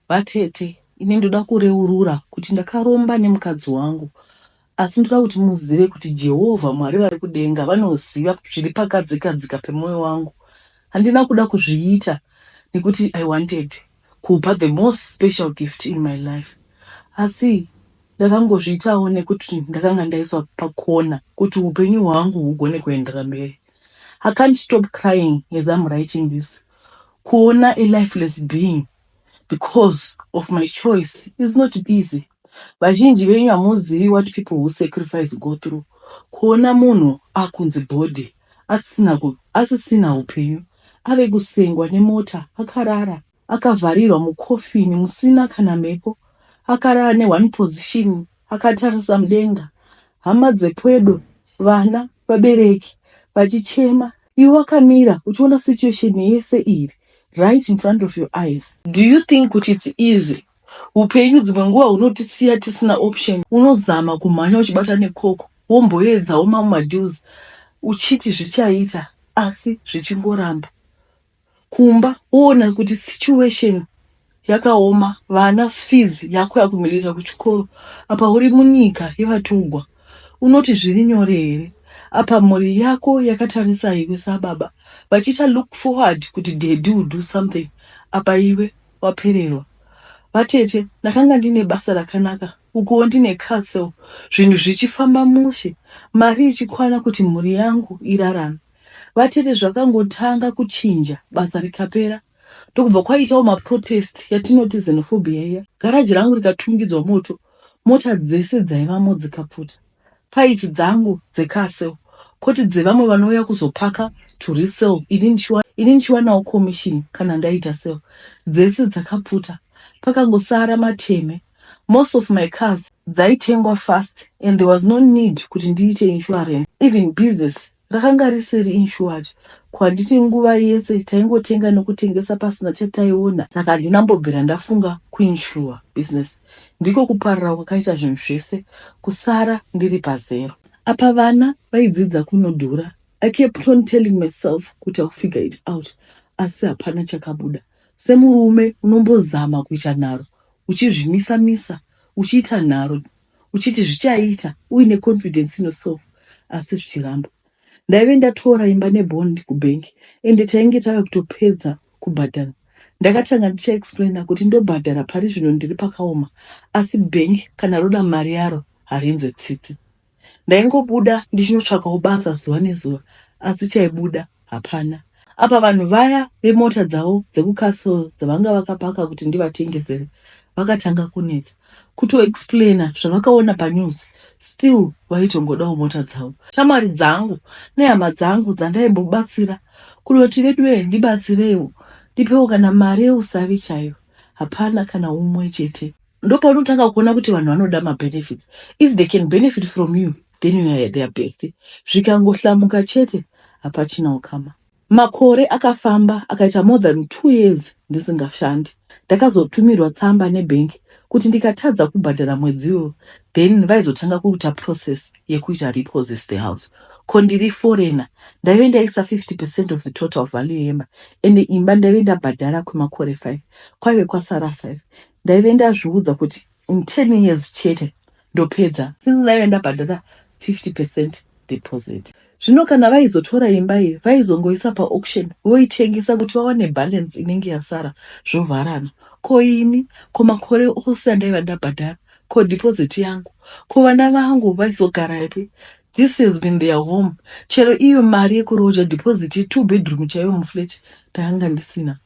Vatete ini ndoda kureurura kuti ndakaromba nemukadzi wangu asi ndoda kuti muzive kuti Jehovha Mwari vari kudenga vanoziva zviri pakadzikadzika pemwoyo wangu. Handina kuda kuzviita nekuti I wanted kupa the most special gift in my life asi ndakangozviitawo nekuti ndakanga ndaiswa pakona kuti upenyu hwangu hugone kuendera mberi. I can't stop crying as I'm writing this Kuona a lifeless being because of my choice is not easy. Vazhinji venyu hamuzivi what people who sacrifice go through. Kuona munhu akunzi body asisina ku, asisina upenyu ave kusengwa nemota akarara akavharirwa mukofini musina kana mhepo akarara ne one position akatarisa mudenga hama dzepwedo vana vabereki vachichema Iwe wakamira uchiona situation yese iri right in front of your eyes. Do you think kuti it's easy? Hupenyu dzimwe nguva hunotisiya tisina option. Unozama kumhanya uchibata nekoko womboedzawo mamwe madeals uchiti zvichaita asi zvichingoramba. kumba woona kuti situation yakaoma vana fees yako yakumirira kuchikoro apa uri munyika yevatugwa unoti zviri nyore here apa mhuri yako yakatarisa iwe sababa vachiita look forward kuti daddy will do something apa iwe wapererwa vatete ndakanga ndine basa rakanaka ukuwo ndine castle zvinhu zvichifamba mushe mari ichikwana kuti mhuri yangu irarame Vatete zvakangotanga kuchinja basa rikapera ndokubva kwaitawo maprotest yatinoti xenophobia iya. Garaji rangu rikatungidzwa moto mota dzese dzaivamo dzikapfuta. Paiti dzangu dzecar sale koti dzevamwe vanouya kuzopaka to resell ini ndichiwanawo commission kana ndaita sale. Dzese dzakapfuta pakangosara mateme. Most of my cars dzaitengwa fast and there was no need kuti ndiite insurance even business Rakanga risiri insured ko handiti nguva yese taingotenga nekutengesa pasina chataiona saka handina mbobvira ndafunga kuinsure business. Ndiko kuparara kwakaita zvinhu zvese kusara ndiri pazero. Apa vana vaidzidza kunodhura. I kept on telling myself kuti I'll figure it out asi hapana chakabuda. Semurume unombozama kuita nharo uchizvimisa misa uchiita nharo uchiti zvichaita uine confidence ino so asi zvichiramba. Ndaive ndatora imba nebond kubank ende tainge tave kutopedza kubhadhara. Ndakatanga ndichaexplaina kuti ndobhadhara pari zvino ndiri pakaoma asi bank kana roda mari yaro harinzwe tsitsi. Ndaingobuda ndichinotsvakawo basa zuva nezuva asi chaibuda hapana. Apa vanhu vaya vemota dzavo dzekucastle dzavanga vakapaka kuti ndivatengesere vakatanga kunetsa kutoexplaina zvavakaona panews still vaitongodawo mota dzavo. Shamwari dzangu nehama dzangu dzandaimbobatsira kunoti veduwee ndibatsireiwo ndipewo kana mari yeusavi chaiyo hapana kana umwe chete. Ndopaunotanga kuona kuti vanhu vanoda mabenefits if they can benefit from you Then you are their bestie. Zvikangohlamuka chete hapachina ukama. Makore akafamba akaita more than two years ndisingashandi. Ndakazotumirwa tsamba nebank kuti ndikatadza kubhadhara mwedzi iwoyo then vaizotanga kuita process yekuita repossess the house. Ko ndiri foreigner ndaive ndaisa 50 percent of the total value yemba ende imba ndaive ndabhadhara kwemakore five kwaive kwasara five. Ndaive ndazviudza kuti In 10 years chete ndopedza. Since ndaive ndabhadhara 50 percent deposit. Zvino kana vaizotora imba iyi vaizongoisa paauction voitengesa kuti vawane balance inenge yasara zvovharana. Ko ini, ko makore ose andaiva ndabhadhara, ko deposit yangu, ko vana vangu vaizogarapi? This has been their home. Chero iyo mari yekuroja deposit ye two bedroom chaiyo muflat Ndanga ndisina.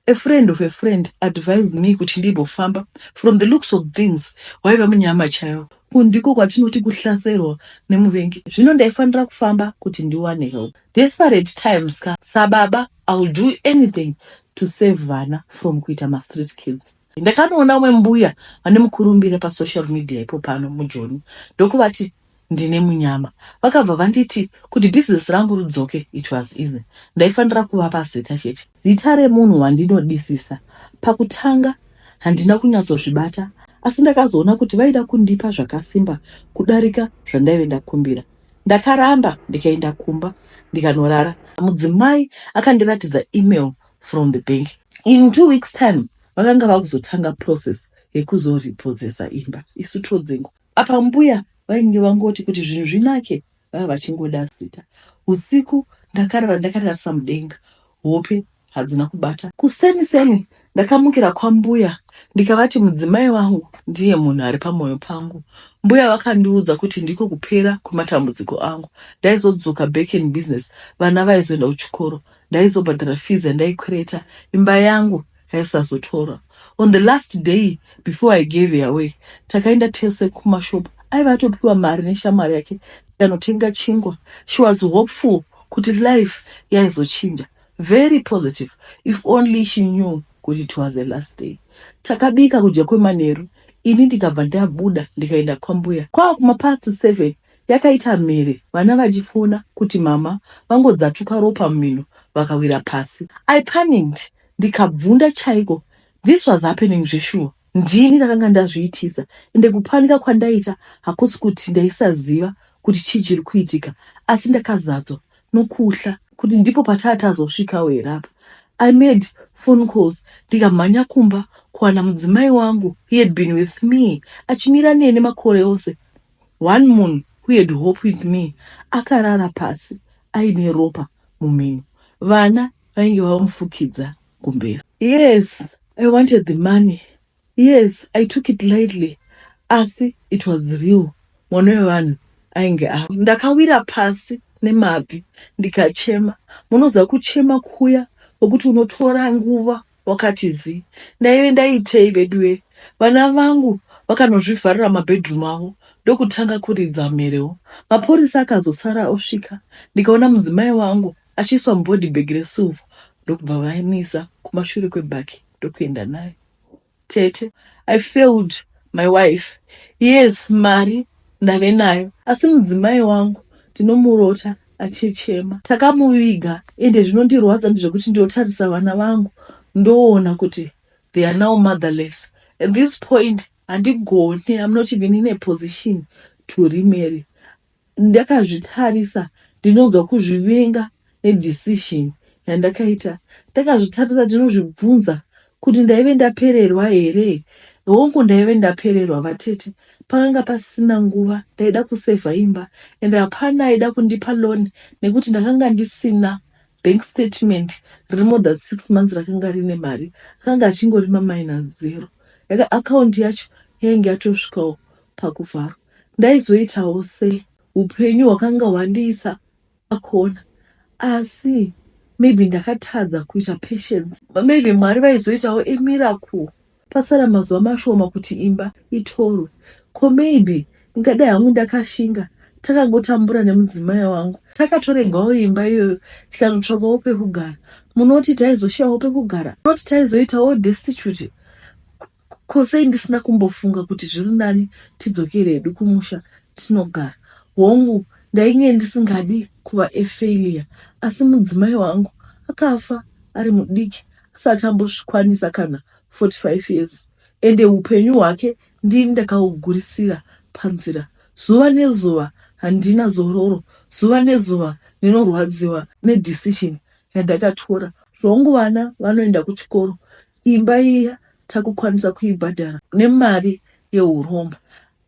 A friend of a friend advised me kuti ndimbofamba. From the looks of things waiva munyama chaiwo. Uku ndiko kwatinoti kuhlaserwa nemuvengi. Zvino ndaifanira kufamba kuti ndiwane help. Desperate times ka sababa I'll do anything to save vana from kuita mastreet kids. Ndakanoona umwe mbuya vane mukurumbira pasocial media ipo pano mujoni ndokuvati ndine munyama vakabva vanditi kuti business rangu ridzoke it was easy ndaifanira kuvapa zita chete zita remunhu wandinodisisa pakutanga handina kunyatsozvibata asi ndakazoona kuti vaida kundipa zvakasimba kudarika zvandaive ndakumbira ndakaramba ndikaenda kumba ndikanorara mudzimai akandiratidza email from the bank in two weeks time vakanga vakuzotanga process yekuzoripodzesa imba isu todzengo apa mbuya vainge vangoti kuti zvinhu zvinake vava vachingoda zita usiku ndakarara ndakatarisa mudenga hope hadzina kubata kuseni seni ndakamukira kwambuya ndikavati mudzimai wangu ndiye munhu ari pamwoyo pangu mbuya vakandiudza kuti ndiko kupera kwematambudziko angu ndaizodzoka back in business vana vaizoenda kuchikoro ndaizobhadhara fees yandaikwereta imba yangu yaisazotorwa on the last day before i gave her away takaenda tese kumashop aiva atopiwa mari neshamwari yake tikanotenga chingwa she was hopeful kuti life yaizochinja very positive if only she knew kuti it was the last day takabika kudya kwemanheru ini ndikabva ndabuda ndikaenda kwambuya kwava kumapast seven Yakaita mhere vana vachifona kuti mama vangodzatuka ropa mumhino vakawira pasi. I panicked ndikabvunda chaiko this was happening zveshuwa ndini ndakanga ndazviitisa ende kupanika kwandaita hakusi kuti ndaisaziva kuti chii chiri kuitika asi ndakazadzwa nokuhla kuti ndipo pataa tazosvikawo here apa. I made phone calls ndikamhanya kumba kuwana mudzimai wangu he had been with me achimira neni makore ose One munhu who had hope with me akarara pasi aine ropa mumhino. Vana vainge vamufukidza kumbeva. Yes I wanted the money, yes I took it lightly asi it was real mwana wevanhu ainge afa. Ndakawira pasi nemabvi ndikachema. Munoziva kuchema kuya kwekuti unotora nguva Wakati zi. Ndaive ndaitei veduwe. Vana vangu vakanozvivharira mumabedroom avo ndokutanga kuridza mherewo. Mapurisa akazosara osvika ndikaona mudzimai wangu achiiswa mubody bag resilver ndokubva vaimuisa kumashure kwebag ndokuenda naye. Tete. I failed my wife. Yes mari ndave nayo asi mudzimai wangu ndinomurota. achichema takamuviga ende zvinondirwadza ndezvekuti ndiotarisa vana vangu ndoona kuti they are now motherless at this point handigoni i'm not even in a position to remarry ndakazvitarisa ndinonzwa kuzvivinga nedecision yandakaita ndakazvitarisa ndinozvibvunza Kuti ndaive ndapererwa here? Hongu ndaive ndapererwa vatete. Pakanga pasisina nguva, ndaida kusevha imba and hapana aida kundipa loan nekuti ndakanga ndisina bank statement riri more than six months rakanga rine mari. Akanga achingori maminus zero. Yaka account yacho yainge yatosvikawo pakuvharwa. Ndaizoitawo sei? Hupenyu hwakanga hwandiisa akona asi maybe ndakatadza kuita patience maybe mwari vaizoitawo a miracle pasara mazuva mashoma kuti imba itorwe ko maybe ndingadai hangu ndakashinga takangotambura nemudzimai wangu takatoregawo imba iyoyo tikanotsvakawo pekugara munoti taizoshayawo pekugara munoti taizoitawo destitute Ko sei ndisina kumbofunga kuti zviri nani tidzokere hedu kumusha tinogara. Hongu ndainge ndisingadi kuva a failure asi mudzimai wangu akafa ari mudiki asati ambosvikwanisa kana 45 years ende hupenyu hwake ndini ndakahugurisira panzira. Zuva nezuva handina zororo, zuva nezuva ndinorwadziwa nedecision yandakatora. Hongu vana vanoenda kuchikoro Imba iya takukwanisa kuibhadhara nemari yehuromba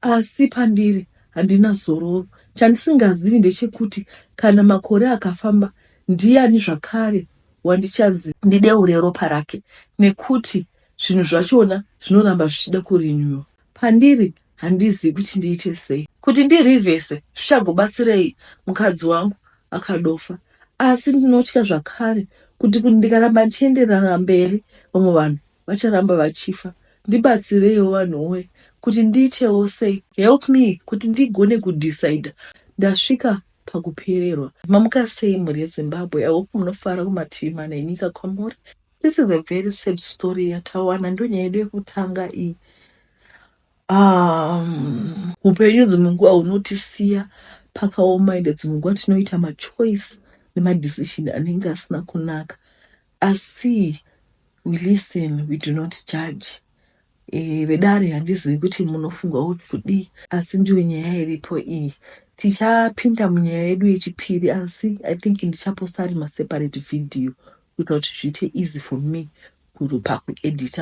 asi pandiri handina zororo. Chandisingazivi ndechekuti kana makore akafamba ndiyani zvakare wandichanzi ndideure ropa rake nekuti zvinhu zvachona zvinoramba zvichida kurenewer pandiri handizivi kuti ndiite sei kuti ndirivhese zvichagobatsirei mukadzi wangu akadofa asi ndinotya zvakare kuti kuti ndikaramba ndichienderana mberi vamwe vanhu vacharamba vachifa ndibatsireiwo vanhu woye kuti ndiitewo sei help me kuti ndigone kudecide ndasvika pakupererwa mamuka sei mhuri yezimbabwe i hope munofara kumativi mana enyika kwamuri This is a very sad story yatawana ndonyaya yedu yekutanga iyi um, upenyu dzimwe nguva hunotisiya pakaoma ende dzimwe nguva tinoita machoice nemadecision anenge asina kunaka asi we listen we do not judge E, vedare handizivi kuti munofunga kuti kudii asi ndiyo nyaya iripo iyi tichapinda munyaya yedu yechipiri asi i think ndichaposta ari maseparate video kuita kuti zviite easy for me pakuedita